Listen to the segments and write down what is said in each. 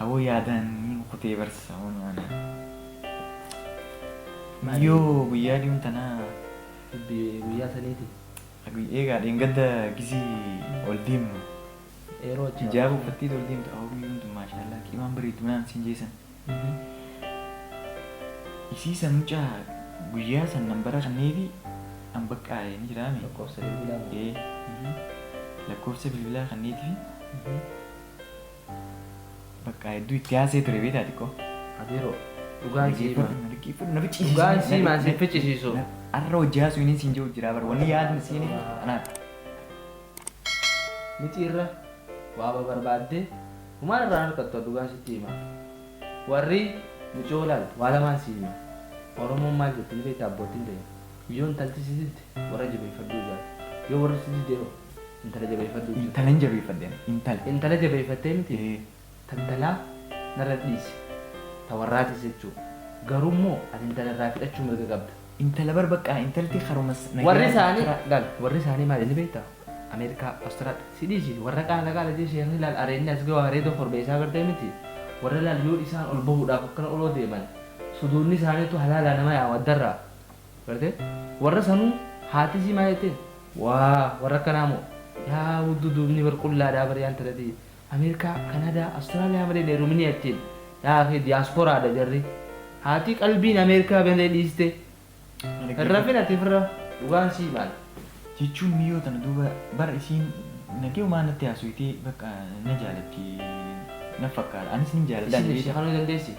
Aboo yaadaan ni kukutee bar sauna ana. Guyyoo guyyaa diun tanaa. Hiddi guyyaa saniiti. Aguy eegaa dheengadda gizii ol deemnu. Eeroo achi Hijaaba uffatteeti ol deemtu aboo guyyuun tun maashaallaa qimaan bareeddu naan siin jee san. Isii san mucaa guyyaa san nan bara kanneefi an baqqaa ee ni jiraame. Lakkoofsa bilbilaa. Ee lakkoofsa bilbilaa kanneetifi. Baqqaa hedduu itti haasee ture beektaa xiqqoo. Abiiroo dhugaan sii himaa. Dhugaan sii himaa si ficcisiisu. Arra hojii haasuu inni siin jiru jiraa bar wanni yaadni siin himu anaa. Miti irra waaba barbaaddee humaan irraa harkattu dhugaan sitti himaa. Warri micoo laalu waa lamaan sii hima. Oromoon maal jetti ni beektaa abboottiin teenya. Yoo intalti si didde warra jabeeffadhuu jaate. Yoo warri si didde hoo? Intala jabeeffadhuu jette. Intala hin jabeeffadhe ani. Intala. Intala jabeeffattee miti? Ee. Ta intalaa narra dhiisi. Ta warraatis jechuu. Garuu immoo ati intala irraa fidhachuu mirga qabda. Intala bar baqqaa intalti karuma nagayaan. Warri isaanii laal warri isaanii maali ni beektaa? Ameerikaa, Awustiraal. Si dhiisi warra qaala qaala jee sheekni laal areedni as gawaa areeda korbeessaa agartee miti? Warra laal yoo isaan ol bahuudhaaf akkana oloo deeman suduudni isaaniitu halaalaa nama yaama addarraa. Garte warra sanuu haati isii maa jettee? Waa warra akkanaa moo. Yaa wuddu duubni bar qullaadhaa bar yaa intalati America Canada Australia malee hin heeruminii achiin yaa akhii diaspora dha jarri haatii qalbiin America malee dhiiste hin rafin ati firra dhugaan sii maal jechuun miyoo tana duuba bar isiin nagayumaa natti haasoytee bakka na jaalatti naf fakkaata anis nin jaaladha Isiin ibsii kanuu dandeessi?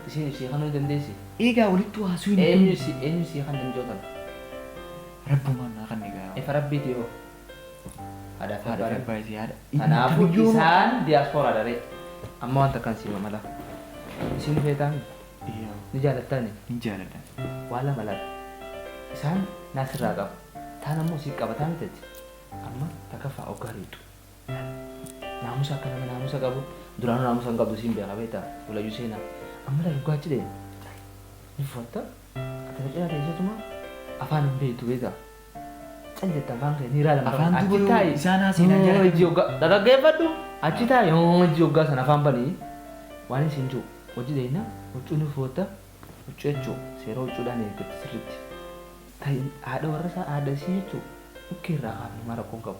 Isiin ibsii kanuu dandeessi? Eegaa walittuu haasuyni kun. Eenyu si eenyu sii kanne micoo tana. Rabbumaan naa kanne gaa. Ifa rabbiiti hoo. Haadhaa fi Haadha fi abbaadhaan. abbaa isii haadha. Kanaafuu Kamiyyuu nuu. isaan diaspora dha ree. Amma waan takkaan sii mamala. Isii ni feetaa mi? Iyyaa. Ni jaalattaa mi? Hin jaaladha. Waa lama laata. Isaan naa sirraa qabu. Taan ammoo sii qabataa miti ati. Amma takaffaa oggaa deettu. Naamusa akka nama naamusa qabu duraanuu naamusa hin qabdu siin beeka beekta walayyuu seenaa amma laal gaachi deema tarii ni fufatta ati na cinaa teessatuma afaan hin beektu beekta cal jetta afaan kee ni ilaalama Afaan achi dubaroo taa'i isaan haaseenaa Yoo jaalatan. hojii hoggaa dhaggeeffadhu achi taa'i yoo hojii hoggaa sana afaan banii waan hin siin jiru hojii deemna huccuu ni fufatta huccuu jechuun seera huccuudhaan eeggatti sirriitti ta'i haadha warra isaa haadha isii jechuun dhukkee irraa kaafne maal rakkoon qabu.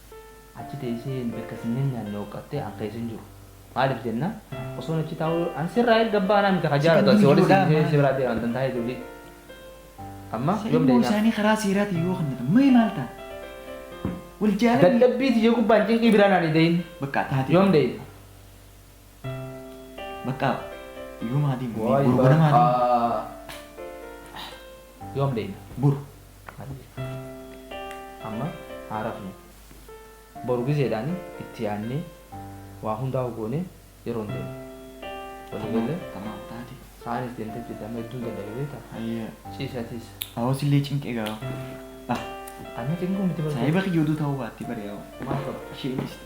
Achi teessee nu erga sin nyanyaanne hooqqattee an keessa hin jiru. Maaliif jennaan osoon achi taa'uu an sirraa erga baanaa miti ka jaalatu asi oli si dhiisee si biraa deema antan taa'ee dulii. Amma Isa yoom ilmoo deeynaa? isaanii karaa seeraatiin yoo kennatan mee maal ta'a? Wal jaalanni Dadhabbii tiyya gubbaan cinqii biraan ani deeyn. bakka taatee Yoom deeyn? bakka yoom haa deemu? Boru ganama haa deemu. Yoom deeyn? Boru. Ayyee. Amma haa rafnu. Boru gizeedhaan itti yaadnee waa hundaa'uu goonee yeroon deemna. Walii gallee? Tamaam taate. Sa'aanis deemtee jirti amma hedduun dadhabe beektaa? Ayyee. Ciisi atis. Awoo sillee cinqee gaa'oo. Ah. Anna cinquu miti bar. Saahiba kiyya oduu ta'uu baattee bari awoo. Maal qaba? Ishee dhiisti.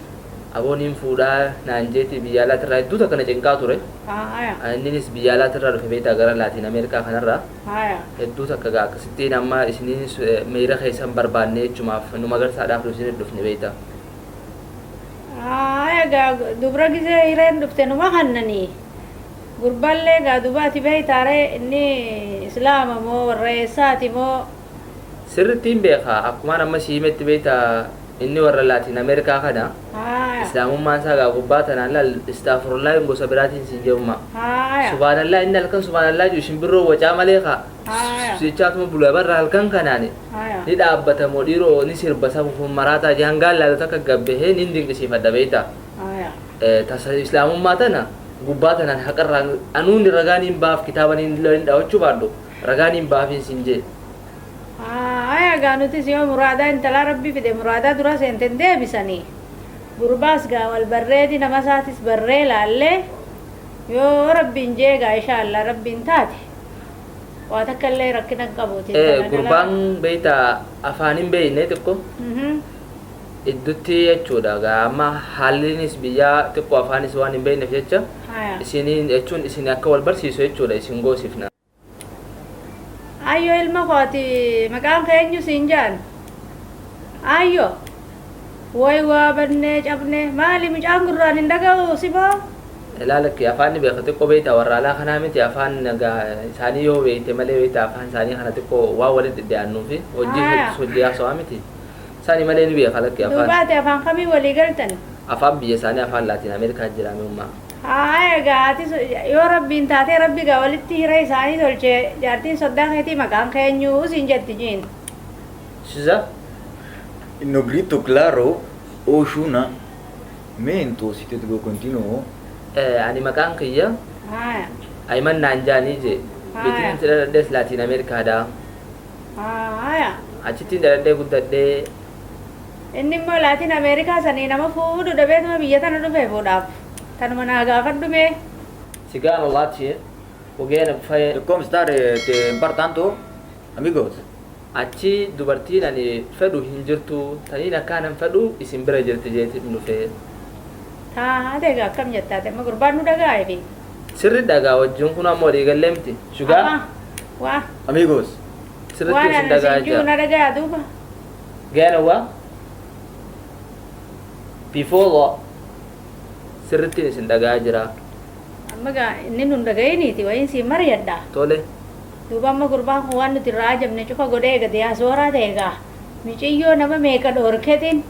Aboo niin fuudhaa naan jeetii biyyaa alaati irraa hedduu takka na cinqaa ture. Haaya. Inninis biyyaa alaati irraa dhufe beektaa gara Laatiin Ameerikaa kanarraa. Haaya. Hedduu takka gaa akkasittiin amma isiniinis miira keessan barbaanne jechumaaf nu magarsaadhaaf nu isinit dhufne beektaa. Haaya gaa dubra gizee hireen dhufte numa kannani. Gurballee gaa dubaati beektaaree inni islaama moo warra eessaati moo Sirrittiin beeka akkumaan amma sii himetti beekta inni warra laatiin Amerikaa kana islaamummaan isaa gaa gubbaa tanaan laal istaafurullaahi hin gosa biraatiin siin jedhu ma subaanallaa inni halkan subaanallaa jiru shimbirroo wacaa malee ka jechaatuma bula barra halkan kanaan ni dhaabbata moo dhiiroo ni sirba safuuf hin maraataa jee hangaan laalu takka gabbahee niin dinqisiifadha beekta tasa islaamummaa tana gubbaa tanaan haqarraa anuun ragaa niin baaf kitaaba niin dhawachuu baadhu Ragaan hin baafiin siin jee. Haaya egaa nutis yoo muraadaa intalaa rabbi fide muraadaa duraa seente hin deebisani gurbaas gaa wal barreedi nama isaatis barree laallee yoo rabbiin jee egaa ishaa allah rabbiin taate waa takka illee rakkina hin qabuuti Ee intala dhalaa gurbaan beeyta afaan hin beeyne xiqqo Mhm. idduttii jechuudha egaa amma haalliinis biyyaa xiqqoo afaanis waan hin beekneef jecha Haya. isiniin jechuun isin akka wal barsiisu jechuudha isin goosifna. Ayyoo ilma kooti maqaan kee eenyu siin jaan? Ayyoo. Woy waa bannee cabnee maali mucaan gurraan hin dhaga'u simoo? Ilaa lakki afaan ni beeka xiqqoo beektaa warra alaa kanaa miti afaan egaa isaanii yoo beekte malee beektaa afaan isaanii kana xiqqoo waan walitti dhiyaannuufi hojii Haya. heddus hojii haasawaa miti. Sani malee ni beeka lakki afaan. Duubaati afaan kamii walii galtani? Afaan biyya isaanii afaan laatiin Ameerikaa jiraame ummaa. Haaya egaa ati yoo rabbiin taatee rabbi egaa walitti hira isaanii tolche jaartiin soddaa keetii maqaan kee eenyu siin jetti jiin. Siza no grito claro Oshuna me entonces te digo continuo. Eh, ani maqaan kiyya Haaya. Ayiman naan jaanii jee. Bitiin Haaya. itti dhaladhes laatiin Ameerikaa dhaa. Haaya. Achittiin dhaladhee guddadhee. Inni immoo Laatiin Ameerikaa sanii nama fuudhu dhabeetuma biyya tana dhufe fuudhaaf. Tanuma naa gaafadhu mee. Sigaro Latin, Ugena Bufaye. E come star te par tanto amigos. Achi dubartiin ani fedhu hin jirtu taniin akkaan an fedhu isin bira jirti jeetin dhufe. Taate egaa akkam jetta ati amma gurbaan nu dhaga'aa efi. Sirri dhagaa wajjin kunoo amma walii gallee miti. Sugar. Amma. Waa. Amigos. Sirriitti Waan isin ani dhagaa isin jiru jira. na dhagayaa duuba. Gaana waa. Bifolo. Sirriitti isin dhagaa jira. Amma gaa inni nun dhagayiniiti wayiin siin mariyadha. Tole. Duuba amma gurbaan kun waan nuti irraa ajabne cufa godhee eega diyaasooraa ta'e egaa miciyyoo nama meeqa dhoorketiin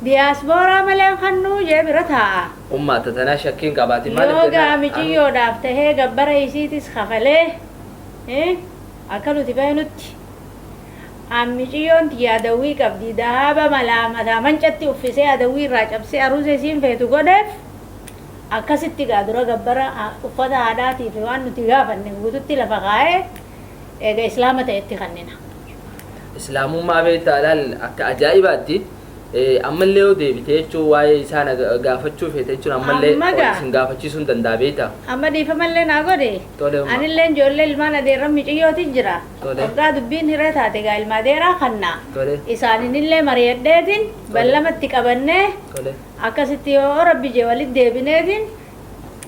Diyaasbooraa malee hin kannuu jee bira taa'a. Ummaata tanaa shakkii hin qabaatin maaliif Yoo jennaan gaa anu. miciyyoodhaaf tahee gabbara isiitis kafalee eh, akka nuti beeknutti an miciyyoon tiyya adawwii qabdi dahaaba malaa mataa mancatti uffisee adawwii irraa cabsee aruuza isiin feetu godheef akkasitti gaa dura gabbara ha- uffata haadhaatiif waan nuti gaafanne guututti lafa kaa'ee eega islaama ta'etti kannina. Islaamummaa beektaa laal akka ajaa'ibaatti ammallee yoo deebite jechuun waa'ee isaa na gaafachuu feete jechuun ammallee Amma gaa. isin gaafachiisuun danda'a beektaa. Amma dhiifamallee naa godhi. Tole umma. Anillee ijoollee ilmaan adeerran miciyyootiin jira. Tole. Waggaa dubbiin hiree taate egaa ilma adeeraa kanna. Tole. Isaaninillee mari'adheetiin ballamatti qabannee Tole. akkasitti yoo rabbi jee walitti deebineetiin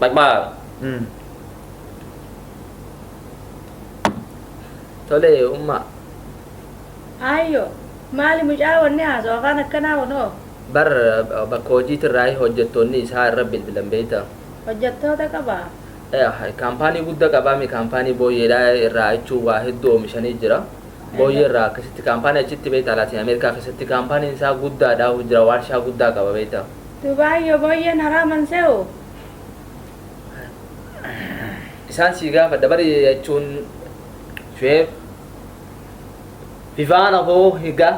Back bar. Mm. Tole umma. Aayyo. Maali mucaa wanni haasoo afaan akkanaa kunoo. Bar uh, bakka hojiitirraa hojjettoonni isaa irra bilbilan beekta. Hojjettoota qabaa. Eh, Kaampaanii guddaa qabaame kaampaanii booyyeedhaa irraa jechuun waa hedduu oomishanii jira. Booyyee irraa akkasitti kaampaanii achitti beektaa Laatiin Ameerikaa keessatti kaampaaniin isaa guddaadha hojjira waarshaa guddaa qaba beektaa. Dubai yo boyyen haraa man se'u. Isaan sii gaafadha bari jechuun Shu'eeb Vivaana hoo higa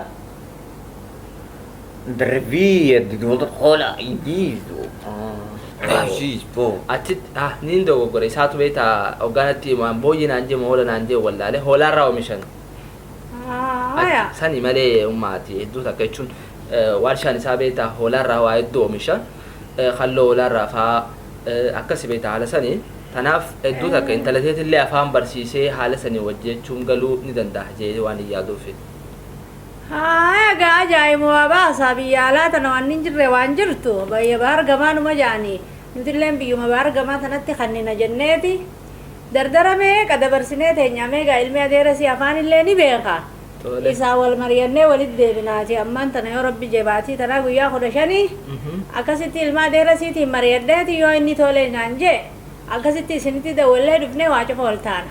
Brevia di dondor cola e disso. Aziz po. Atit ah niin dogoggore isaatu beekta hoggaanatti himaan booyyee naan jee moola naan jee wallaale hoolaarraa oomishan. Haya. Sani malee ummaati hedduu takka jechuun waarshaan isaa beekta hoolaarraa waa hedduu oomisha halloo hoolaarraa faa akkasi beekta haala sani. Tanaaf hedduu takka intala teetillee afaan barsiisee haala sanii wajji jechuun galuu ni danda'a jee waan hin yaaduufi. Haaya egaa ajaa'imo waa baasaa biyya alaa tana wanni hin jirre waan jirtu bayya bahar gamaa numa ja'ani nutilleen biyyuma bahar gamaa tanatti kannina jenneeti dardara meeqa dabarsinee teenya amma egaa ilmi adeerasii afaanillee ni beeka Tole. isaa wal mariyannee walit deebinaati ammaan tana yoo rabbi jee baatii tanaa guyyaa kudha shanii Mhm. akkasitti ilma adeerasiitiin mariyadheeti yoo inni tole naan jee akkasitti isinitti dawwallee dhufnee waa cufa wal taana.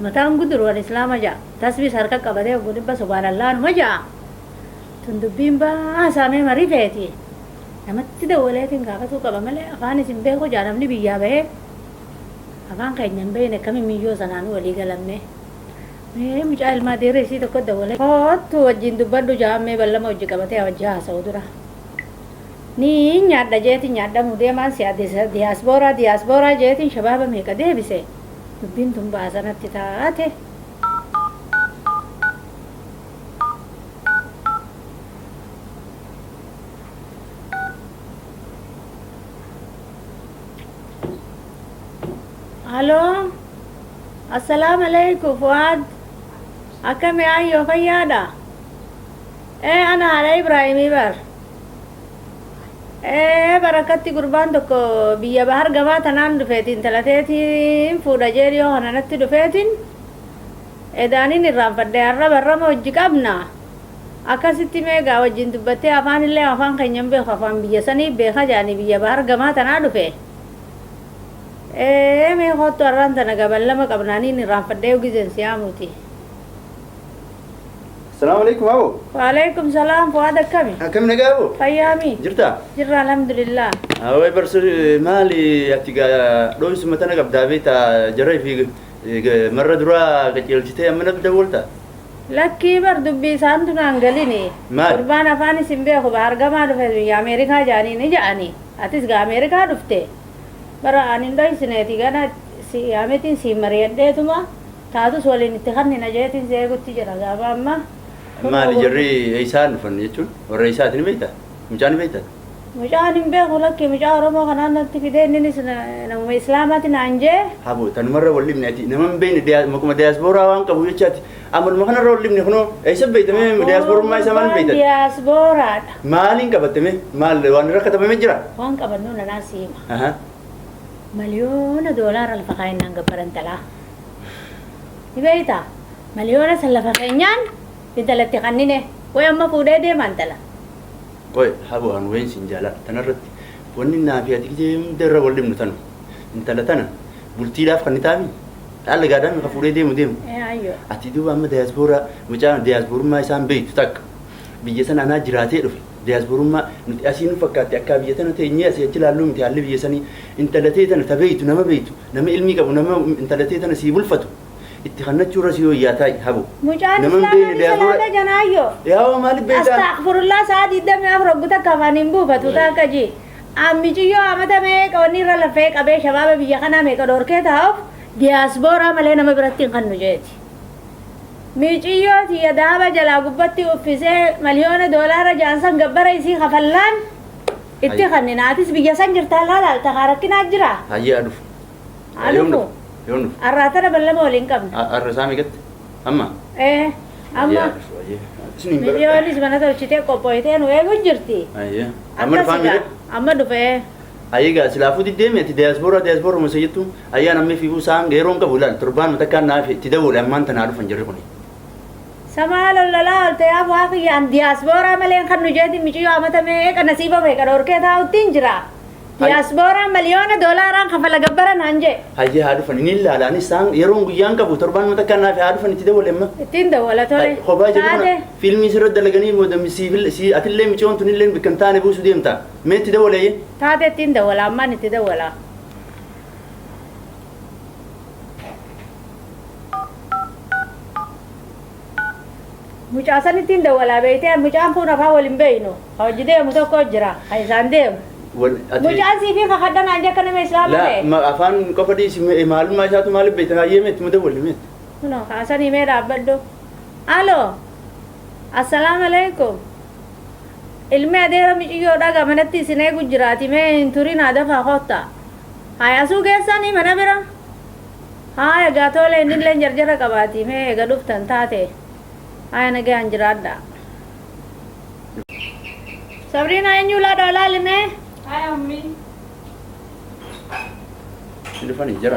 Mataan guduru an islaama ja'a. Tasbiis harka qabatee oggu dhibba subaanallaa numa ja'a. Tun dubbiin baasaa mee marii feeti. Namatti dawwaleetiin gaafatuu qaba malee afaanis hin beeku ja'a namni biyyaa bahee. Afaan keenya hin beeyne akkamiin miyyoo sanaanu walii galan mee. Mee mucaa ilmaa deera isii tokko dawwalee koottu wajjiin dubbadhu ja'aan mee ballama wajji qabatee haa wajji haasawu dura. Niin nyaadha jeetiin nyaadhamuu deemaan si'a diyaasbooraa diyaasbooraa jeetiin shabaaba meeqa deebise. Dubbiin tun baasanatti taate. Aloo. Assalaamu alaikum Fuwaad. Akkami ayyoo fayyaadha? Ee ana haadha Ibraahimii bar. Ee barakkatti gurbaan tokko biyya bahar gamaa tanaan dhufeeti intala teetiin fuudha jee dhiyoo kana natti dhufeetiin edaaniin irraanfadhe har'a barrama hojji qabna akkasitti meegaa wajjin dubbattee afaan illee afaan keenya hin beeku afaan biyya sanii beeka jaanii biyya bahar gamaa tanaa dhufe ee mee koottu har'aan tana gaban lama qabnaaniin irraanfadhee gizeen siyaamuuti. Salaamu alaikum aboo. Waalaikum salaam Fuwaad akkami? Akkam nagaa aboo? Fayyaami? Jirtaa? Jirra alhamdulillah. Awee barsu maali ati gaa dhooyisuma tana qabdaa beektaa jarra fi marra duraa qajeelchitee amma natti dawwalta. Lakkii bar dubbii isaan tunaan galine. Maal? Gurbaan afaan isin beeku ba argamaa dhufe biyya Ameerikaa jaanii ni ja'ani. Atis gaa Ameerikaa dhufte. Bara ani hin dhoysineeti gana si yaamitiin siin mari'adheetuma. Taatus waliin itti kannina jeetiin si eegutti jira gaafa amma kunoo Maali gurgu- jarri eessaa dhufan jechuun warra eessaati ni beektaa? Mucaa ni beektaa? Mucaan hin beeku lakki mucaa Oromoo kanaan natti fidee inninis na- namuma Islaamaati naan jee Habo tanumarra wal dhibne ati nama hin beekne diyaa- maquma diyaaspooraa waan qabu jecha ati amaluma kanarra wal dhibne kunoo eessa beektamee diyaaspoorummaa isaa maal beektan? Diyaasbooraadha. Maaliin qabatame? Maal waan rakkatamame jira? Waan qabannu nanaa siima. Ahaa. Miliyoona doolaara lafa kaayinaan gabbaran talaa. Ni beektaa? Maliyoona san lafa keenyaan intalatti kannine. Qoy amma fuudhee deema intala. Qoy habo an wayin sin jaaladha. Tanarratti wanni naa fi ati gizee hunda irra wal dhibnu tanu. Intala tana bultiidhaaf kannitaafii? Dhaalla gaadaami ka fuudhee deemu deemu. Ee ayyo. Ati duuba amma dayaaspooraa mucaa dayaaspoorummaa isaan beektu takka biyya san anaa jiraatee dhufe. Diyaaspoorummaa, nuti asii nu fakkaatti akkaa biyya tana teenyee asii achi laalluu miti haalli biyya sanii. Intala tee tana ta beeytu, nama beeytu, nama ilmii qabu, nama intala tee tana sii bulfatu itti kannachuu irra sii woyyaa taa'i habo. Mucaan Nama hin islaamaa beeyne ni diyaaspoora. salaata janaayyoo. Yaa hoo maaliif beeytaa? Astaghfirullah saa 24 hoggu takka afaan hin buufatu Wallahi. taakka ji. An miciyyoo amata meeqa wanni irra laffee qabee shabaaba biyya kanaa meeqa dhorkee taa'uuf diyaasbooraa malee nama biratti hin kannu jeeti. Miiciyyoo tiyya dahaba jalaa gubbatti uffisee maliyoona doolaara ja'an san gabbara isii kafallaan itti Hayy. kannina. Atis biyya san jirta har'aa laalta kaa rakkinaa jiraa? Hayyee haa dhufu. Haa Yoom dhufu. dhufu? Yoom dhufu? Har'aa tana ballama waliin qabna. A- Har'a isaa meeqatti? Amma? Ee Hayyee amma haa dhufu. Hayyee. Isin hin miiciyoonis baradhaa. mana tolchitee qophooytee nu eegu jirti. Hayyee. Amma Akkas dhufaa egaa miidhe? amma dhufee. Ayii egaa silaafuu diddee mii ati diaspora diaspora masa jettu ayyaan ammee fiifuu saan geeroon qabu ilaal torbaanuma takkaan naaf itti dawwale ammaan tanaa dhufan jarri kuni. Sa maal ollalaa olte yaa buhaa kiyya an diaspora malee hin kannu jeetiin miciyyoo amata meeqa nasiiba meeqa dhorkee taa'uttiin jira. Hay- Diaspora miliyoona doolaaraan kafala gabbara naan jee. Hayyee haa dhufan inni ilaala anis saan yeroon guyyaan qabu torbaanuma takkaan naaf haa dhufan itti dawwale amma. Ittiin dawwala tole. Hay, Kophaa jedhu kana Taate. fiilmii sirra dalaganii booda siif- si- atillee miciyoon tunillee bikkan taane buusu deemta. Mee itti dawaleyye. Taatee ittiin dawala ammaan itti dawala. Mucaa sanittiin dawalaa beeytee an mucaan kuun afaan wal hin beeynu ka hojji deemu tokko jira ka isaan deemu. Wal ati Mucaan siifii kakadha naan jee akka nama islaama laa ta'e. ma afaan qofa dhiisi me- maalummaa isaatu maaliif beekta hayyee mee itti dawalli mee. Kunoo kaasanii mee dhaabbadhu. Aloo. Assalam aleykum ilmi adeera miciyyoo dhaga manatti isin eegu jiraati mee hin turinaa dafaa kotta haaya asuu geessani mana bira haaya egaa toole innilleen jarjara qabaati mee ega dhuftan taate haaya nagaan jiraadha sabriina eenyuu laadhaa laali mee haaya ummi Dhufanii jira.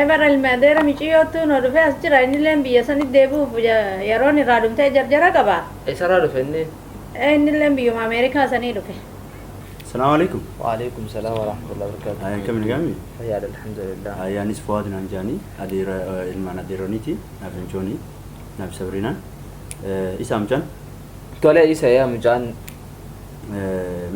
Ever ilmi adeera miciyyoottu no dhufe as jira innileen biyya sanit deebi'uuf yaroon irraa dhumtee jarjara qaba. Esaraa dhufe innin? Ee innilleen biyyuma America sanii dhufe. Salaam Aleykum. Wa'aleykum salaam warahmatullahi wabarakaatuh. Haaya akkami nagaa mi? Fayyaadha alhamdulillah. Haaya anis Fuad naan ja'ani adeera ilmaan adeeroniiti naaf inchooni naaf sabriinaan Isa mucaan? Tole isa yaa mucaan.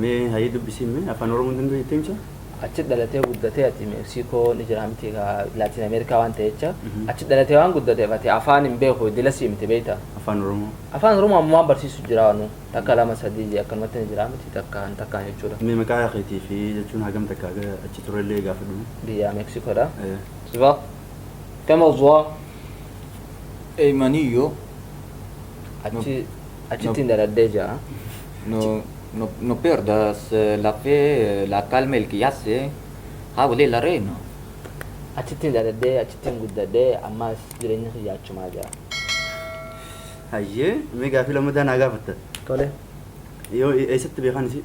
Mee hayii dubbisiin mee afaan oromoon danda'u jettee mucaa? Achi dhalatee guddatee ati Meeksikoo ni jira miti egaa Laatiin Ameerikaa waan ta'e jecha. Achi dhalatee waan guddateef ati afaan hin beeku iddila sii miti beekta. Afaan Oromoo. Afaan Oromoo ammumaan barsiisu jira waanuu takka lama sadii jee akkanumatti ni jira miti takkaan takkaan jechuudha. Mee maqaa keetii fi jechuun hagam takka haga achi turre illee gaafadhu mee. Biyyaa Meeksikoodha. Eh. Zwa. Kama zwa. Eymaniyyoo. Achi Achittiin dhaladhee ja'a. No, no, no pierdas eh, la fe, eh, la calma, el que hace, habla el arena. Achittiin dhaladhee, achittiin guddadhee, ammaas jireenyi kiyya achumaa ja'a. Hayyee, mee gaaffii lammataa naa gaafatta. Tole. Yoo eessatti beekan isii?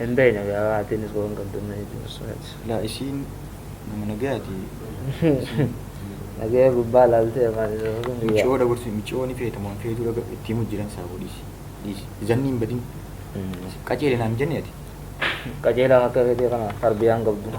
Hin beeyne gaa waan atiinis waan qabdu na hin cimsu ati. Laa isiin nama nagayaati isiin. Nagaya gubbaa laaltee maal isa sun guyyaa. Miciyoo dabarsu miciyoo ni feeta moo hin feetuu dhaga itti himu jiran saafuu dhiisi dhiisi zanni hin badin si qaceele naan jenne ati. Qaceelaan akka keetii kana tarbiyaa hin qabdu.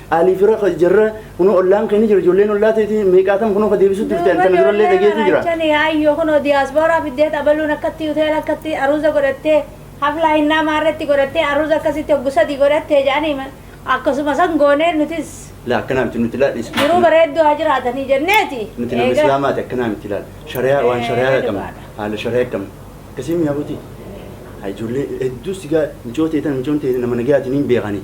Alii fira ka jarra kunoo ollaan kee ni jira ijoolleen ollaa teeti meeqaatam kunoo ka deebisutti dhufte ani tana durallee dhageetu jira. Achani ayyo kunoo diyaaspooraa fiddeet abaluun akkatti hoteela akkatti aruuza godhattee haflaa hinnaa maarreetti godhattee aruuza akkasitti hoggu sadii godhattee jedhanii ma- akkasuma san goonee nutis La akkanaa miti nuti laal is jiruu bareedduu haa jiraatanii jenneeti. nuti nama Eega- islaamaati akkanaa miti laal shariyaa waan shariyaa Eh, qabna dhugaadha. haala shariyaa qabna akkasii miyaa buti ijoollee hedduu sigaa micoota eetan micoon ta'e nama nagayaatiin hin beekanii